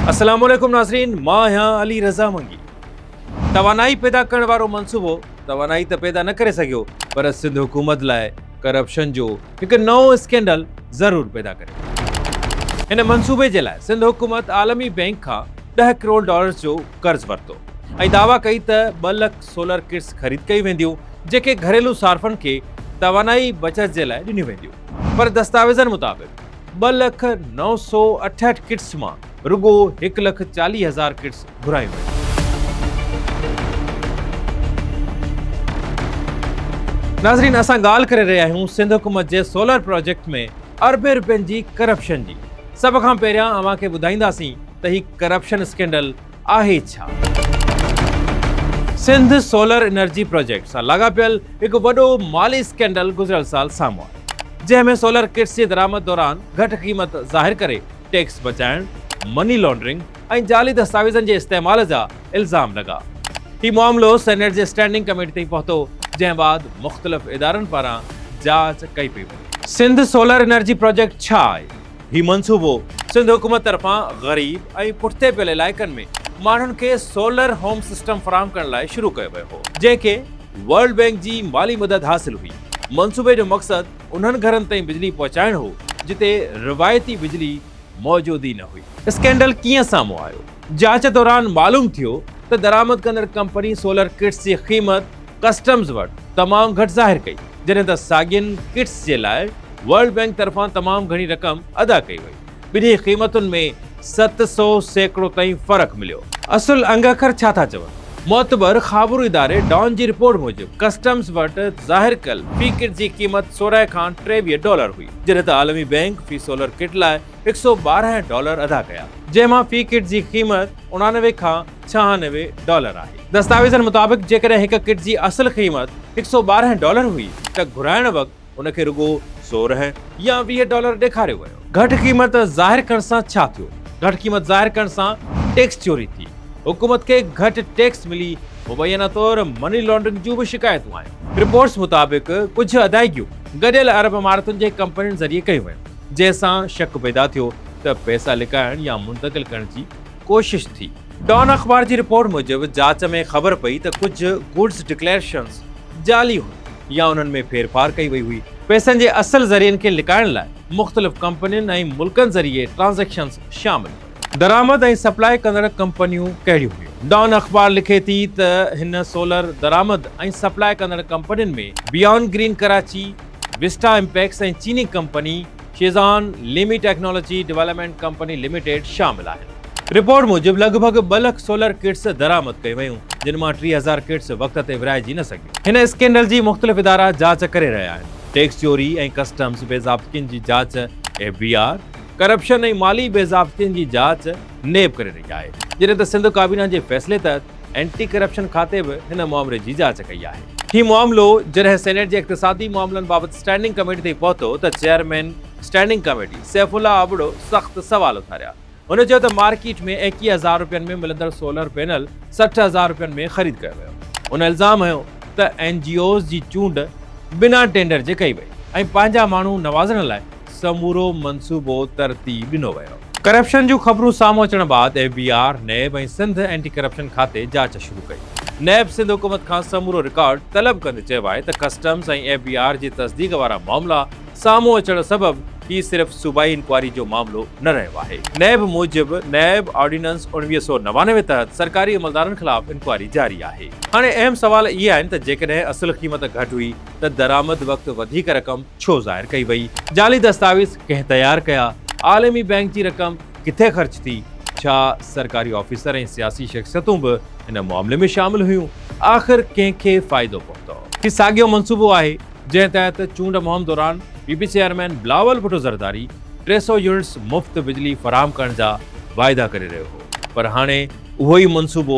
اسلام عليڪم ناظرين مان آهيان علي رضا منگي توانائي پيدا ڪرڻ وارو منصوبو توانائي ته پيدا نه ڪري سگهيو پر سنڌ حڪومت لاء ڪرپشن جو هڪ نئون اسڪينڊل ضرور پيدا ڪريو هن منصوبي جي لاء سنڌ حڪومت عالمي بينڪ کان ڏهه ڪروڙ ڊالرز جو قرض ورتو ۽ دعويٰ ڪئي ته ٻه لک سولر ڪٽس خريد ڪيون وينديون جنهن کي گهريلو صارفن کي توانائي بچت جي لاء ڏنيون وينديون پر دستاويزن مطابق ٻه لک نو سؤ اٺهٺ ڪٽس مان رڳو هڪ لک چاليهه هزار ڪٽس گهرايون ويون. ناظرين اسان ڳالهه ڪري رهيا آهيون سنڌ حڪومت جي سولر پراجيڪٽ ۾ اربين روپين جي ڪرپشن جي سڀ کان پهريان اوهان کي ٻڌائينداسين ته هي ڪرپشن اسڪينڊل آهي ڇا؟ سنڌ سولر انرجي پروجيڪٽ سان لاڳاپيل هڪ وڏو مالي اسڪينڊل گذريل سال سامهون آيو جنهن ۾ سولر ڪٽس جي درآمد دوران گهٽ قيمت ظاهر ڪري ٽيڪس بچائڻ، مني لانڊرنگ ۽ جعلي دستاويزن جي استعمال جا الزام لڳا. هي معاملو سينيٽ جي اسٽينڊنگ ڪميٽي تائين پهتو جنهن بعد مختلف ادارن پاران جاچ ڪئي پئي وڃي. سنڌ سولر انرجي پروجيڪٽ ڇا آهي؟ هي منصوبو سنڌ حڪومت طرفان غريب ۽ پٺتي پيل علائقن ۾ ماڻهن کي سولر هوم سسٽم فراهم ڪرڻ لاء شروع ڪيو ويو هو، جنهن کي ورلڊ بينڪ جي مالي مدد حاصل هئي. منصوبي جو مقصد انهن گهرن تائين بجلي پهچائڻ هو، جتي روايتي بجلي موجود ئي نه هئي. اسڪينڊل ڪيئن سامهون آيو؟ جاچ دوران معلوم ٿيو ته درآمد ڪندڙ ڪمپني سولر ڪٽس جي قيمت ڪسٽمز وٽ تمام گهٽ ظاهر ڪئي، جڏهن ته ساڳين ڪٽس جي لاء ورلڊ بئنڪ طرفان تمام گهڻي رقم ادا ڪئي وئي. ٻنهي قيمتن ۾ ست سؤ سيڪڙو تائين فرق مليو. اصل انگ اکر ڇا ٿا چون؟ معتبر خابرو اداري ڊان جي رپورٽ موجب ڪسٽمز وٽ ظاهر ڪيل في ڪٽ جي قيمت سورهن کان ٽيويهه ڊالر هئي، جڏهن ته عالمي بئنڪ في سولر ڪٽ لاء هڪ سؤ ٻارهن ڊالر ادا ڪيا، جنهن مان في ڪٽ جي قيمت اڻانوي کان ڇهانوي ڊالر آهي. دستاويزن مطابق جيڪڏهن هڪ ڪٽ جي اصل قيمت هڪ سؤ ٻارهن ڊالر هئي ته گهرائڻ وقت ان کي رڳو سورهن يا ويهه ڊالر ڏيکاريو ويو. گهٽ قيمت ظاهر ڪرڻ سان ڇا ٿيو؟ گهٽ قيمت ظاهر ڪرڻ سان ٽيڪس چوري ٿي، حڪومت کي گهٽ ٽيڪس ملي، مبينا طور مني لانڊرنگ جون به شڪايتون آيون. رپورٽس مطابق ڪجهه ادائيگيون گڏيل عرب امارتن جي ڪمپنين ذريعي ڪيون ويون، جنهن سان شڪ پيدا ٿيو ته پئسا لڪائڻ يا منتقل ڪرڻ جي ڪوشش ٿي. ڊان اخبار جي رپورٽ موجب جاچ ۾ خبر پئي ته ڪجهه گڊز ڊڪليئرشنز جعلي هيون يا انهن ۾ ڦير ڦار ڪئي وئي هئي. پئسن جي اصل ذريعن کي لڪائڻ لاء مختلف ڪمپنين ۽ ملڪن ذريعي ٽرانزيڪشنز شامل هيون. درآمد ۽ سپلاء ڪندڙ ڪمپنيون ڪهڙيون هيون؟ ڊان اخبار لکي ٿي ته هن سولر درآمد ۽ سپلاء ڪندڙ ڪمپنين ۾ بيان گرين ڪراچي، وسٽا امپيڪس ۽ چيني ڪمپني شيزان ليمي ٽيڪنالاجي ڊويلپمينٽ ڪمپني لميٽيڊ شامل آهن. رپورٽ موجب لڳ ڀڳ ٻه لک سولر ڪٽس درآمد ڪيون ويون، جن مان ٽيهه هزار ڪٽس وقت تي ورهائجي نه سگهيون. هن اسڪينڊل جي مختلف ادارا جاچ ڪري رهيا آهن، ٽيڪس چوري ۽ ڪسٽمز بي ضابطگين جي جاچ ايف بي آر، ڪرپشن ۽ مالي بي ضابطگين جي جاچ نيب ڪري رهي آهي، جڏهن ته سنڌ ڪابينا جي فيصلي تحت اينٽي ڪرپشن کاتي به هن معاملي جي جاچ ڪئي آهي. هي معاملو جڏهن سينيٽ جي اقتصادي معاملن بابت اسٽينڊنگ ڪميٽي تائين پهتو ته chairman standing committee Saifullah Abro سخت سوال اٿاريا. هن چيو ته مارڪيٽ ۾ ايڪيهه هزار رپين ۾ ملندڙ سولر پينل سٺ هزار رپين ۾ خريد ڪيو ويو. هن الزام هنيو ته اين جي اوز جي چونڊ بنا ٽينڊر جي ڪئي وئي ۽ پنهنجا ماڻهو نوازڻ لاء سمورو منصوبو ترتيب ڏنو ويو. ڪرپشن جون خبرون سامهون اچڻ بعد F B R, NAB ۽ Sindh anti corruption کاتي جاچ شروع ڪئي. نيب سنڌ حڪومت کان سمورو رڪارڊ طلب ڪندي چيو آهي ته ڪسٽمز ۽ ايف بي آر جي تصديق وارا معاملا سامهون اچڻ سبب هي صرف صوبائي انڪوائري جو معاملو نه رهيو آهي. نيب موجب نيب آرڊيننس اڻويهه سؤ نوانوي تحت سرڪاري عملدارن خلاف انڪوائري جاري آهي. هاڻي اهم سوال اهي آهن ته جيڪڏهن اصل قيمت گهٽ هئي، ته درآمد وقت وڌيڪ رقم ڇو ظاهر ڪئي وئي؟ جعلي دستاويز ڪنهن تيار ڪيا؟ عالمي بئنڪ جي رقم ڪٿي خرچ ٿي؟ ڇا سرڪاري آفيسر ۽ سياسي شخصيتون به ان معاملي ۾ شامل هيون؟ آخر ڪنهن کي فائدو پهتو؟ هي ساڳيو منصوبو آهي، جنهن تحت چونڊ مهم دوران P P chairman Bilawal Bhutto Zardari ٽي سؤ يونٽس مفت بجلي فراهم ڪرڻ جا واعدا ڪري رهيو هو، پر هاڻي اهو ئي منصوبو